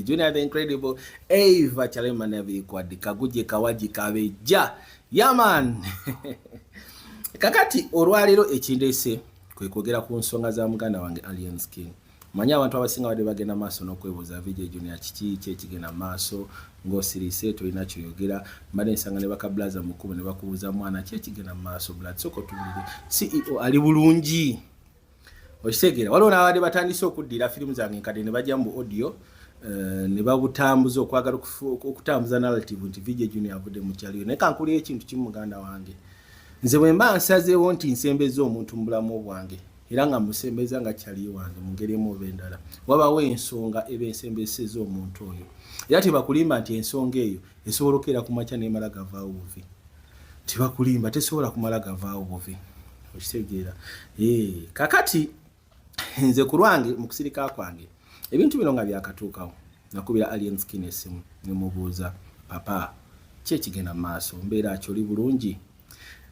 Junior the Incredible, Eva Chalema Nabi Kwadi, Kaguje Kawaji Kabeja. Yeah man. Kakati olwalero ekindese kwe kwogera ku nsonga za muganda wange Alien Skin. Manya abantu abasinga bade bagenda maaso n'okwebuuza VJ Junior kiki kye kigenda maaso ng'osirise tolina kyoyogera mbadde nsanga ne bakablaza mukkubo ne bakubuuza mwana ki ekigenda maaso blood soko tubulire CEO ali bulungi. okitegeera waliwo n'abadde batandise okuddira firimu zange nkadde ne bajja mu audio eh, ne babutambuza okwagala okutambuza narrative nti vijja junior avudde mu kyaliyo naye kankulira ekintu kimu muganda wange nze bwe mba nsazeewo nti nsembeza omuntu mu bulamu bwange era nga musembeza nga kyali wange mu ngeri emu oba endala wabawo ensonga eba ensembeseza omuntu oyo era tebakulimba nti ensonga eyo Esobola okeera ku makya nemala gavaawo buvi. Tebakulimba, tesobola kumala gavaawo buvi. Okitegeera? Ee, kakati nze ku lwange mu kusirika kwange ebintu bino nga byakatuukawo nakubira Alien Skin essimu ne mubuuza papa ki ekigenda mu maaso mbeera ki oli bulungi?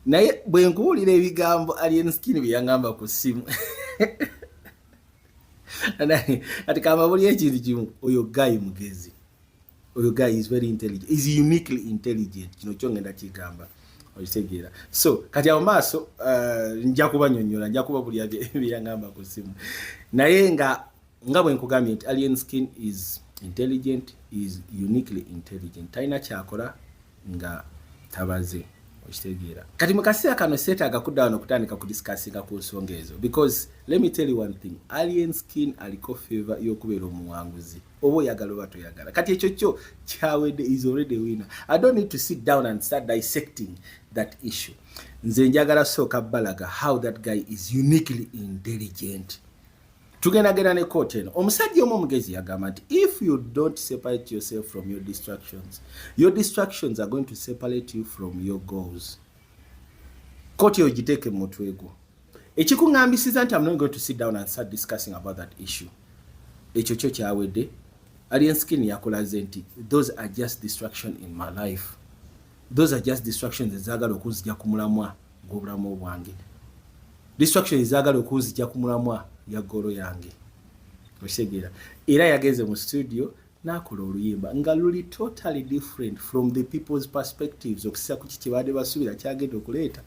Naye bwe nkuwulira ebigambo Alien Skin bye yangamba ku ssimu kati kamba buli ekintu kimu oyo gayi mugezi. oyo guy is very intelligent is uniquely intelligent kino kyo ngenda kigamba okitegeera so kati awo maaso uh, nja kubanyonyola nja kuba buli byeyangamba ku simu naye nga nga bwe nkugambye nti alien skin is intelligent is uniquely intelligent talina kyakola nga tabaze okitegeera kati mu kaseera kano seetaaga kudda wano okutandika ku discussinga ku nsonga ezo because let me tell you one thing alien skin aliko favor y'okubeera omuwanguzi oba oyagala oba toyagala kati ekyo kyo kyawedde is already winner i don't need to sit down and start dissecting that issue nze njagala sooka balaga how that guy is uniquely intelligent tugendagenda ne kooti eno omusajja omu omugezi yagamba nti if you don't separate yourself from your distractions your distractions are going to separate you from your goals kooti eyo giteeke mu mutwe gwo ekikuŋambisiza nti am not going to sit down and start discussing about that issue ekyo kyo kyawedde alien skin yakulaze nti those are just distraction in my life those are just distractions ezagala okunzija ku mulamwa gw'obulamu bwange distraction ezagala okunzija ku mulamwa ya golo yange okitegeera era yagenze mu studio nakola oluyimba nga luli totally different from the people's perspectives okusisa kuki kyebabadde basuubira kyagenda okuleeta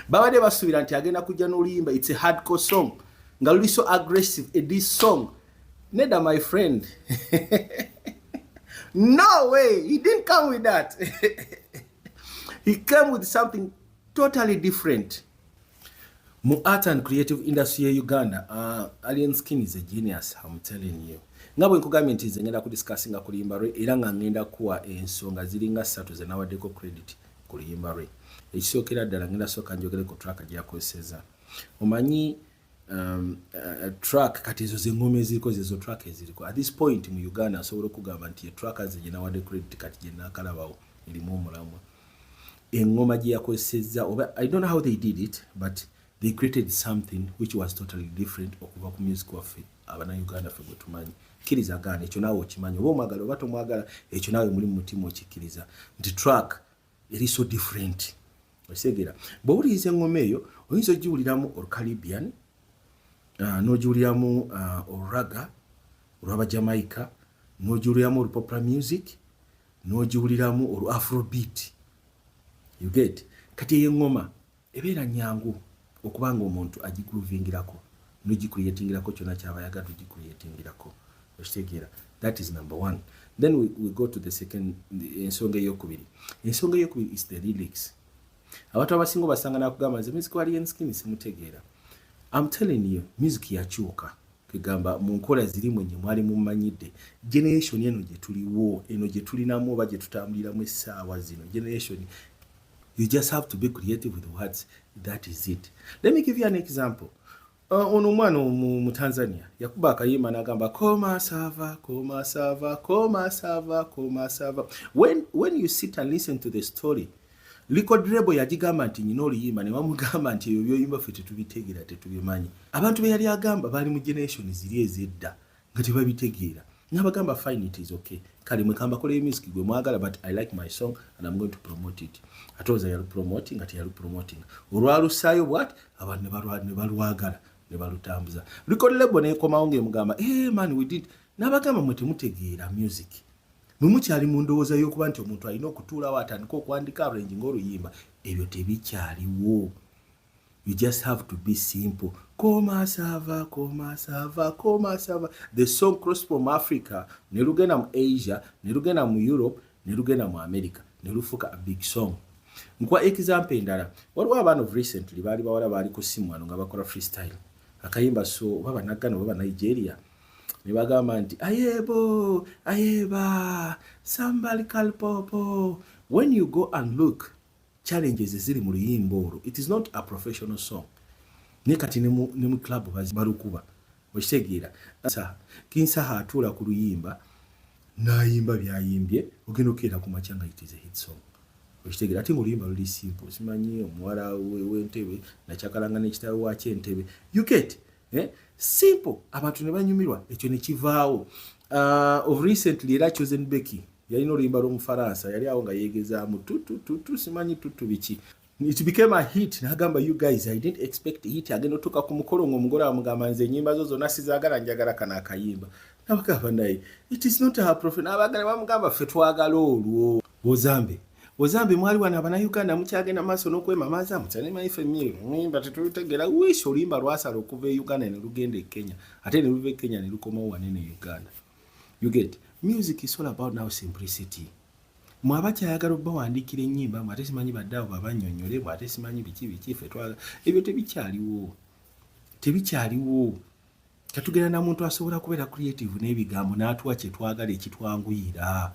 babadde basuubira nti agenda kujja n'oluyimba its a hardcore song nga luli so aggressive a dis song neda my friend no way he didn't come with that he came with something totally different mu art and creative industry ya uganda uh, alien skin is a genius am telling you nga bwe nkugambye nti nze ngenda kudiscussinga ku luyimba lwe era nga ngenda kuwa ensonga ziringa ssatu ze nawaddeko credit ku luyimba lwe ekisookera ddala ngenda sooka njogere ku traka gyeyakozeseza omanyi um, uh, track kati ezo zengoma eziriko zezo track eziriko at this point mu uganda asobola okugamba nti etrack aze gyenawade credit kati gyenakalabawo erimu omulamwa engoma gyeyakozesezza oba i don't know how they did it but they created something which was totally different okuva ku music waffe abana uganda fe gwetumanyi kkiriza gaana ekyo naawe okimanyi oba omwagala oba tomwagala ekyo naawe muli mu mutima okikkiriza nti track eri so different osegera bwowuliriza engoma eyo oyinza ogiwuliramu or caribbean uh, nogiwuliramu uh, oraga olwaba jamaica nogiwuliramu or popular music nogiwuliramu or afrobeat you get kati eyo engoma Ebeera nyangu okuba nga omuntu agigroovingirako nogicreatingirako kyona kyaba ayagala ogicreatingirako okitegeera that is number one then we, we go to the second ensonga eyokubiri ensonga eyokubiri is the lyrics abantu abasinga obasanga nakugamba nze music wa lion skin simutegeera am telling you music yakyuka egamba mu nkola ziri mwenye mwali mumanyidde generation eno gyetuliwo eno gyetulinamu oba gyetutambuliramu essaawa zino generation You just have to be creative with words. That is it. Let me give you an example. Uh, ono omwana omu mu Tanzania yakuba akayimba nagamba koma sava koma sava koma sava koma sava when, when you sit and listen to the story record label yagigamba nti nyina oluyimba ne bamugamba nti ebyo byoyimba ffe tetubitegera tetubimanyi abantu be yali agamba baali mu generation ziri ezedda nga tebabitegeera nabagamba fine it is okay kale mwekamba koleyo music gwe mwagala but i like my song and i'm going to promote it ate oza yalu promoting ate yalu promoting olwalusaayo bwat abantu nebalwagala nebalutambuza record label nekomawo ngaemugamba hey eh, man we did nabagamba mwe temutegeera music mwe mukyali mu ndowooza y'okuba nti omuntu alina okutuulawo atandika okwandika arranging oluyimba ebyo tebikyaliwo You just have to be simple. Koma sava, koma sava, koma sava. The song cross from Africa, ne lugenda mu Asia, ne lugenda mu Europe, ne lugenda mu America, ne lufuka a big song. Nkwa example endala. Waliwo abaana of recently baali bawala baali ku simu wano nga bakola freestyle. Akayimba so baba naggana baba Nigeria. Ne bagamba nti ayebo, ayeba, sambal kalpopo. When you go and look, challenges eziri mu luyimba olwo it is not a professional song naye kati ne mu club balukuba okitegeera kinsaha atuula ku luyimba nayimba byayimbye ogenda okukeera ku makya nga it is a hit song okitegeera ate muluyimba luli simple simanyi omuwala wentebe nakyakalanga nekitawe wakyo entebe you get eh? simple abantu ne banyumirwa ekyo ne kivaawo uh, of recently era chosen becky yalina oluyimba lw'omufaransa yali awo nga yeegezaamu tutututu simanyi tutu biki it became a hit nagamba you guys i didn't expect hit agenda otuuka ku mukolo ngaomugole amugamba nze enyimba zo zonna sizagala njagala kana akayimba nabagamba naye it is not her profit nabagala bamugamba ffe twagala olwo bozambe Ozambi mwali wano abana Uganda mukyagenda maaso n'okwemamaaza mukyalema ife mmiri muyimba tetulutegeera wiisi oluyimba lwasala okuva e Uganda ne lugenda e Kenya ate ne luva e Kenya ne lukomawo wanene e Uganda you get music is all about now simplicity mwe abakyayagala obawandiikira ennyimba mwe ate simanyi badde abo babanyonyole mwe ate simanyi biki biki fe twala ebyo tebikyaliwo tebikyaliwo Tetugenda na muntu asobola kubeera creative n'ebigambo n'atuwa kye twagala ekitwanguyira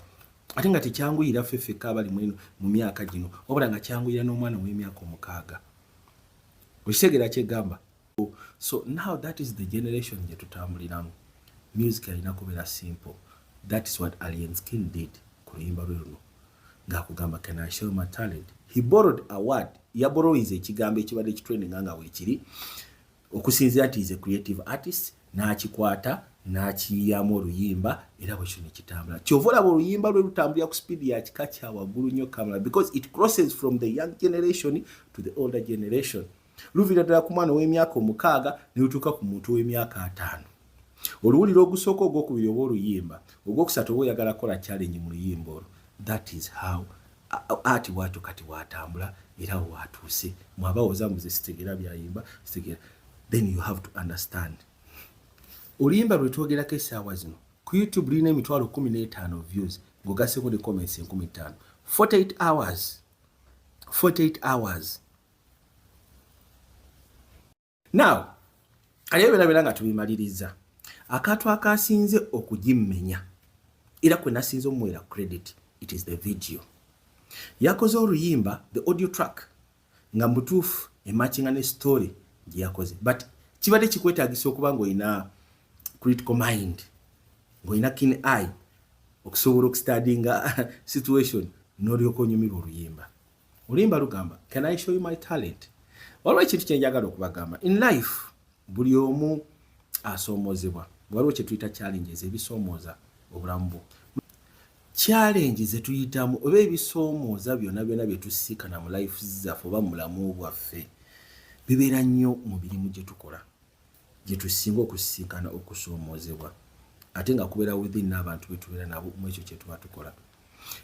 ate nga tekyanguyira ffe ffekka abali mweno mu myaka gino wabula nga kyanguyira n'omwana w'emyaka omukaaga okitegeera kyegamba so now that is the generation gye tutambuliramu music alina kubeera simple that is what alien skin did ku luyimba lwe luno ng'akugamba can i show my talent he borrowed a word yaborowiza ekigambo ekibadde kitrendinga nga weekiri okusinzira nti is a creative artist n'akikwata n'akiyiyamu oluyimba era bwe kino kitambula kyova olaba oluyimba lwe lutambulira ku speed ya kika kya waggulu nnyo kamera because it crosses from the young generation to the older generation luviira ddala ku mwana ow'emyaka omukaaga ne lutuuka ku muntu ow'emyaka ataano oluwulira ogusooka ogwokubiri oba oluyimba ogwokusatu oba oyagala kukola challenge mu luyimba olwo that is how ati bwatyo kati bwatambula era watuuse mwabawoza mbuze sitegera byayimba sitegera then you have to understand oluyimba lwetwogerako esaawa zino ku youtube lulina emitwalo kumi n'etaano views ngaogaseko ne comments enkumi ttaano 48 hours 48 hours now kale ebyo byonna nga tubimaliriza akantu akasinze okugimmenya era kwe nasinze omuweera credit it is the video yakoze oluyimba the audio track nga mutuufu emakinga ne story gye yakoze but kibadde kikwetagisa okuba ng'olina critical mind ng'olina kin eye okusobola okustadinga situation n'olyoka onyumirwa oluyimba Olimba lugamba, can I show you my talent? Waliwo ekintu kye njagala okubagamba. In life, buli omu asoomozebwa. Waliwo kye tuyita challenges ebisoomooza obulamu bwo. Challenge ze tuyitamu oba ebisoomooza byonna byonna bye tusiikana mu life zaffe oba mu bulamu bwaffe bibeera nnyo mu mirimu gye tukola gye tusinga okusiikana okusoomoozebwa ate nga kubeera within n'abantu be tubeera nabo mu ekyo kye tuba tukola.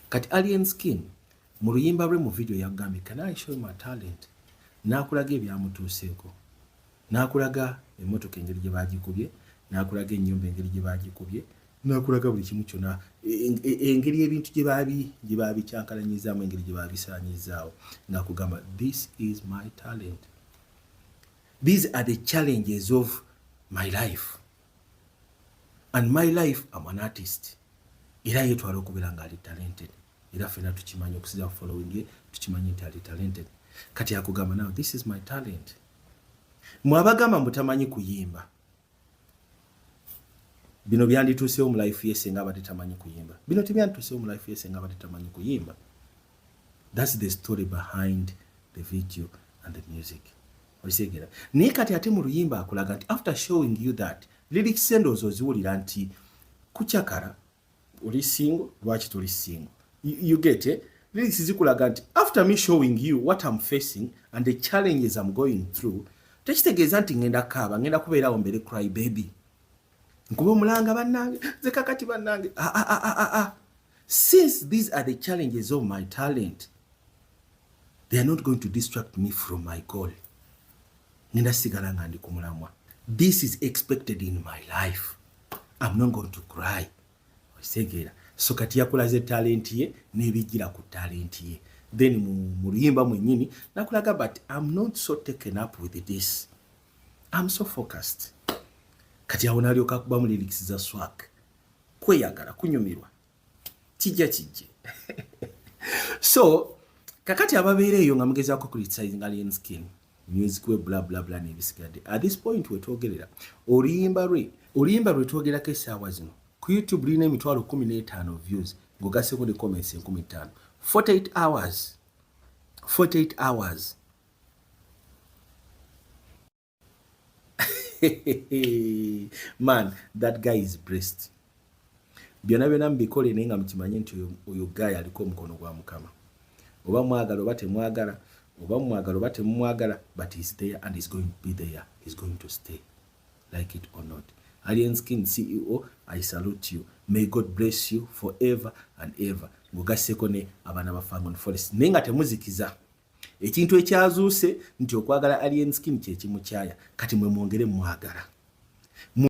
Kati Alien Skin Mu luyimba lwe mu vidiyo yagambye Can I show you my talent? n'akulaga ebyamutuuseeko, n'akulaga emmotoka engeri gye baagikubye, n'akulaga ennyumba engeri gye baagikubye, n'akulaga buli kimu kyonna, engeri ebintu gye baabi gye baabikyankalanyizaamu, engeri gye baabisaanyizzaawo, n'akugamba this is my talent, these are the challenges of my life and my life am an artist, era yetwala okubeera ng'ali talented. era fena tukimanyi okusiza ku following ye tukimanyi nti ali talented kati akugamba nawe this is my talent mwabagamba mutamanyi kuyimba bino byandituusewo mu life ye senga abadde tamanyi kuyimba bino tebyandituusewo mu life ye senga abadde tamanyi kuyimba thats the story behind the video and the music okitegera naye kati ate mu luyimba akulaga nti after showing you that lyrics endowooza oziwulira nti kucakara oli single lwaki toli single you, you get it lyrics zikulaga nti after me showing you what I'm facing and the challenges I'm going through tekitegeeza nti ngenda kaaba ngenda kubeerawo mbere cry baby nkuba omulanga bannange nze kakati bannange ah, ah, ah, ah, ah. since these are the challenges of my talent they are not going to distract me from my goal ngenda sigala nga ndi ku mulamwa this is expected in my life am not going to cry okisegeera so kati yakulaze talenti ye n'ebijjira ku talenti ye then mu luyimba mwenyini nakulaga but am not so taken up with this am so focused kati awo nalyoka akubamu lirics za swak kweyagala kunyumirwa kijja kijje so kakati ababeera eyo nga mugezaako kulitisayizinga lien skin music we bla bla bla nebisigadde at this point wetwogerera oluyimba lwe oluyimba lwe twogerako esaawa zino ku youtube lulina emitwalo kumi n'etaano views ng'ogaseko ne comments enkumi ttaano 48 hours 48 hours man that guy is blessed byona byona mubikole naye nga mukimanye nti oyo guy aliko omukono gwa mukama oba mwagala oba temwagala oba mwagala oba temumwagala but he's there and he's going to be there he's going to stay like it or not alien skin ceo i salute you may god bless you forever and ever ngogaseko ne abaana ba fangon forest naye nga temuzikiza ekintu ekyazuuse nti okwagala alien skin kyekimukyaya kati mwe mwongere mwagala